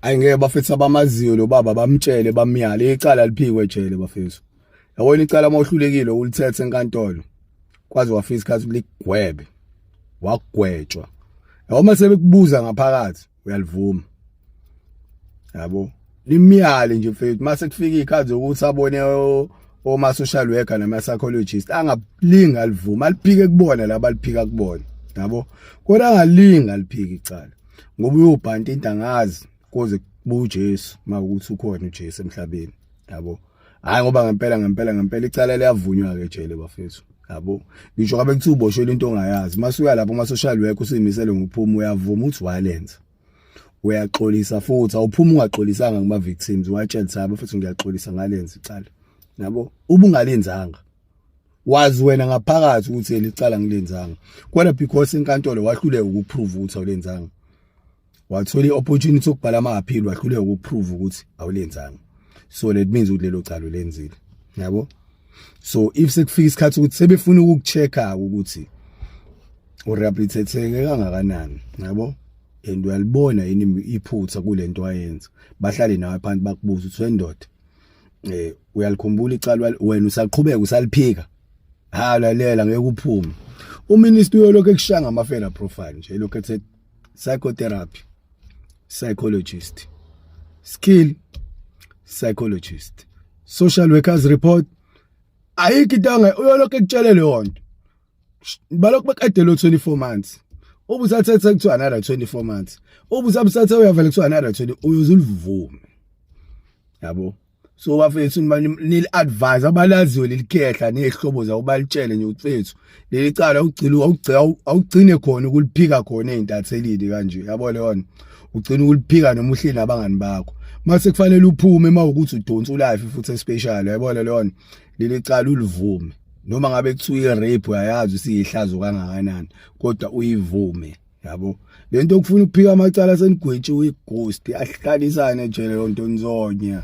ayi ngeke bafethu abamaziyo lo baba bamtshele bamyale icala liphikwe ejele bafethu yabona icala uma uhlulekile ulithethe enkantolo kwaze wafika isikhathi ligwebe wagwetshwa yabo uma sebekubuza ngaphakathi uyalivuma yabo limyale nje mfethu mase kufika ikhathi ukuthi abone oma social worker nama psychologist angalinga livuma aliphike kubona laba liphika kubona yabo kodwa angalinga aliphike icala ngoba uyobhanta into angazi koze buJesu makuthi ukhona uJesu emhlabeni yabo hayi ngoba ngempela ngempela ngempela icala liyavunywa ke jele bafethu yabo ngisho ngabe kuthi uboshwe into ongayazi masuya lapho ama social worker usimisele ngokuphuma uyavuma uthi walenza uyaxolisa futhi awuphuma ungaxolisanga kuma victims watshela sabo futhi ngiyaxolisa ngalenza icala nabo ubungalenzanga wazi wena ngaphakathi ukuthi elicala ngilenzanga kodwa because inkantolo wahluleka ukuprove ukuthi awulenzanga wathola iopportunity okubhala ama appeal wahluleka ukuprove ukuthi awulenzanga so let means ukuthi lelo calo lenzile yabo so if sekufika isikhathi ukuthi sebefuna ukukuchecka ukuthi urehabilitateke kangakanani yabo and uyalibona yini iphutha kulento ayenza bahlale nawe phansi bakubuza uthi wendoda eh uyalikhumbula icala wena usaqhubeka usaliphika ha lalela ngeke uphume uminister uyolokhu ekushaya ngamafela profile nje lokho ethe psychotherapy psychologist skill psychologist social workers report ayikho into uyolokhu ekutshele leyo nto balokhu bekade lo 24 months ubusathethe kuthiwa another 24 months ubusabusathe uyavela kuthiwa another 20 uyozulivuma yabo so bafethu nili advise abalaziwe lelikhehla nezihlobo zawo balitshele nje mfethu leli cala ugcila ugcina awugcine khona ukuliphika khona ezintathelini kanje yabo leona ugcina ukuliphika noma uhleli nabangani bakho mase kufanele uphume uma ukuthi udonsa ulife futhi especial yabo leona leli cala ulivume noma ngabe kuthiwa i-rape uyayazi usiyihlazo kangakanani kodwa uyivume yabo lento okufuna ukuphika amacala senigwetshiwe ighost ahlalisane jele lonto nzonya